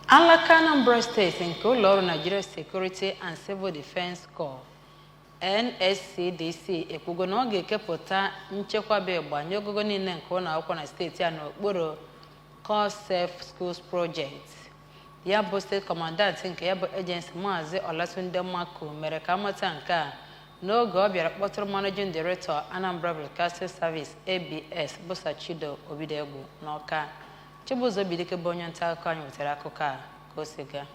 Alaka Anambra steeti nke ụlọọrụ Nigeria Security and Civil Defence Corps NSCDC ekwugo na ọ ga-ekepụta nchekwa bụ ịgba nye ogogo niile nke ụlọ akwụkwọ na steeti a n'okpuru Corps Safe Schools Project. Ya bụ steeti kọmandant nke ya bụ ejensi Maazị Olatunde Maku mere ka amata nke a n'oge ọ bịara kpọtụrụ Managing Director Anambra Broadcasting Service ABS bụ Sir Chido Obidiegwu n'Ọka. Chibụzọ Obidike bụ onye nta akụkọ anyị wetara akụkọ a ka o si gaa.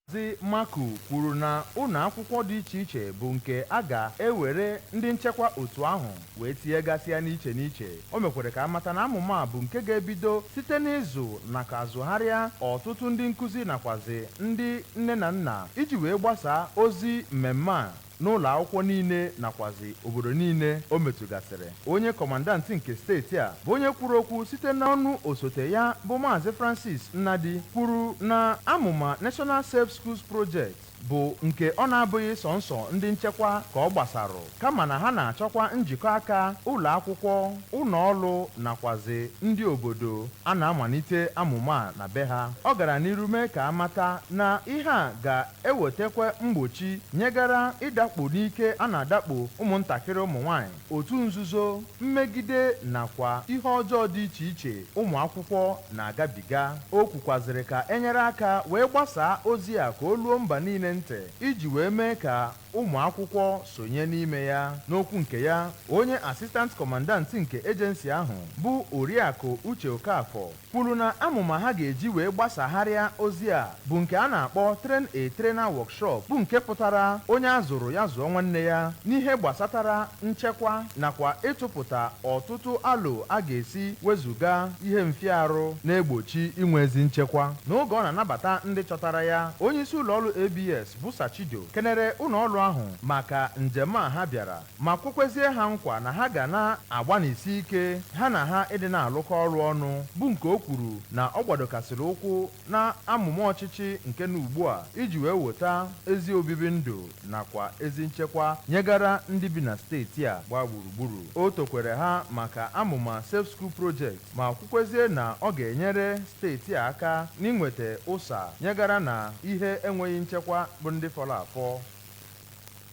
Maazị Maku kwuru na ụlọ akwụkwọ dị iche iche bụ nke a ga-ewere ndị nchekwa otu ahụ wee tinyegasịa n'iche n'iche. O mekwere ka a mata na amụma a bụ nke ga-ebido site n'ịzụ nakwa azụgharịa ọtụtụ ndị nkụzi nakwazị ndị nne na nna iji wee gbasaa ozi mmemme a n'ụlọakwụkwọ niile nakwazị obodo niile o metụgasịrị. Onye kọmandant nke steeti a bụ onye kwuru okwu site n'ọnụ osote ya bụ Maazị Francis Nnadi kwuru na amụma National Safe Schools Project bụ nke ọ na-abụghị sọnsọ ndị nchekwa ka ọ gbasarụ kama na ha na-achọkwa njikọ aka ụlọakwụkwọ, ụlọọrụ nakwazị ndị obodo a na-amalite amụma a na be ha. Ọ gara n'iru mee ka a mata na ihe a ga ewetekwa mgbochi nyegara ịdakpo n'ike a na-adakpo ụmụntakịrị ụmụnwaanyị, otu nzuzo, mmegide nakwa ihe ọjọọ dị iche iche ụmụakwụkwọ na-agabiga. O kwukwazịrị ka e nyere aka wee gbasaa ozi a ka o luo mba niile ntị iji wee mee ka ụmụakwụkwọ sonye n'ime ya. N'okwu nke ya, onye Assistant Commandant nke Agency ahụ bụ Oriakụ Uche Okafor, kwuru na amụma ha ga-eji wee gbasagharịa ozi a bụ nke a na-akpọ Train a Trainer Workshop bụ nke pụtara onye a zụrụ ya zụọ nwanne ya n'ihe gbasatara nchekwa nakwa ịtụpụta ọtụtụ alo a ga-esi wezuga ihe mfịarụ na-egbochi inwe ezi nchekwa. N'oge ọ na-anabata ndị chọtara ya, onyeisi ụlọọrụ ABS bụ Sir Chido kenere ụlọọrụ ahụ maka njem a ha bịara. ma kwekwezie ha nkwa na ha ga na-agbanisi ike ha na ha ịdị na-alụkọ ọrụ ọnụ, bụ nke o kwuru na ọ gbadokasịrị ụkwụ n'amụma ọchịchị nke nọ ugbua iji wee weta ezi obibi ndụ nakwa ezi nchekwa nyegara ndị bi na steeti a gbaa gburugburu. O tokwere ha maka amụma Safe School Project ma kwukwezie na ọ ga-enyere steeti a aka n'inweta ụsa nyegara na ihe enweghị nchekwa bụ ndị fọrọ afọ.